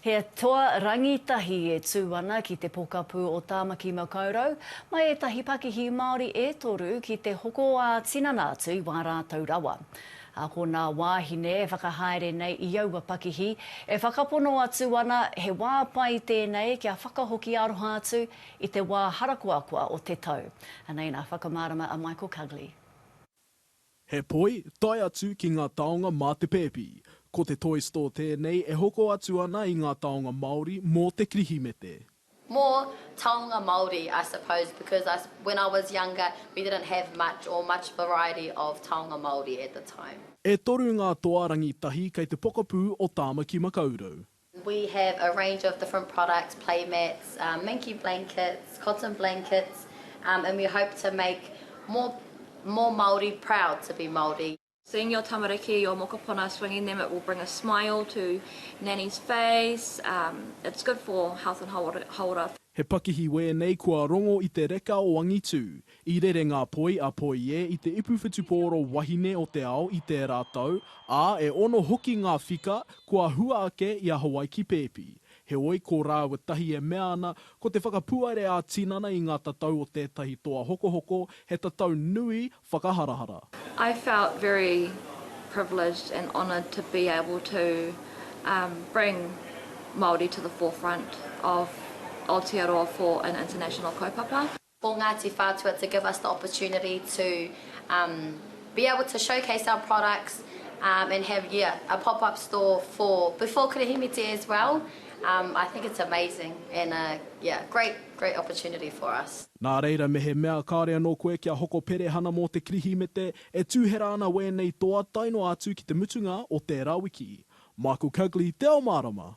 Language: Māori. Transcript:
He toa rangitahi e tū ana ki te pokapū o Tāmaki Makaurau, mai ētahi pakihi Māori e toru ki te hoko ā-tinana atu i wā rātou rawa. Ā, ko nā wāhine e whakahaere nei i aua pakihi, e whakapono atu ana he wā pai tēnei kia whakahoki aroha atu i te wā harakoakoa o te tau. Anei nā whakamārama a Michael Cugley. He poi, tae atu ki ngā taonga mā te pēpi. Ko te Toy Store tēnei e hoko atu ana i ngā taonga Māori mō te Kirihimete. More taonga Māori I suppose because I when I was younger we didn't have much or much variety of taonga Māori at the time. E toru ngā toa rangitahi kei te pokapū o Tāmaki Makaurau. We have a range of different products, play mats, minky blankets, cotton blankets and we hope to make more more Māori proud to be Māori. Seeing your tamariki, your mokopuna swinging them it will bring a smile to Nanny's face, it's good for health and hauora. He pakihi wēnei kua rongo i te reka o angitū, I rere ngā poi a Poie i te ipu whutupōro wahine o te ao i tērā tau, ā, e ono hoki ngā whika kua hua ake i a Hawaiki pēpi. Heoi, ko rāua tahi e mea ana, ko te whakapuare ā-tinana i ngā tatau o tētahi toa hokohoko, he tatau nui whakaharahara. I felt very privileged and honoured to be able to bring Māori to the forefront of Aotearoa for an international kaupapa. o Ngāti Whātua to give us the opportunity to um be able to showcase our products um and have yeah a pop up store for before Kirihimete as well um I think it's amazing and a yeah great great opportunity for us. Nā reira mehemea kāore anō koe kia hoko perehana mō te Kirihimete, e tūhera ana wēnei toa tae noa atu ki te mutunga o tērā wiki. Michael Cugley, Te Ao Mārama.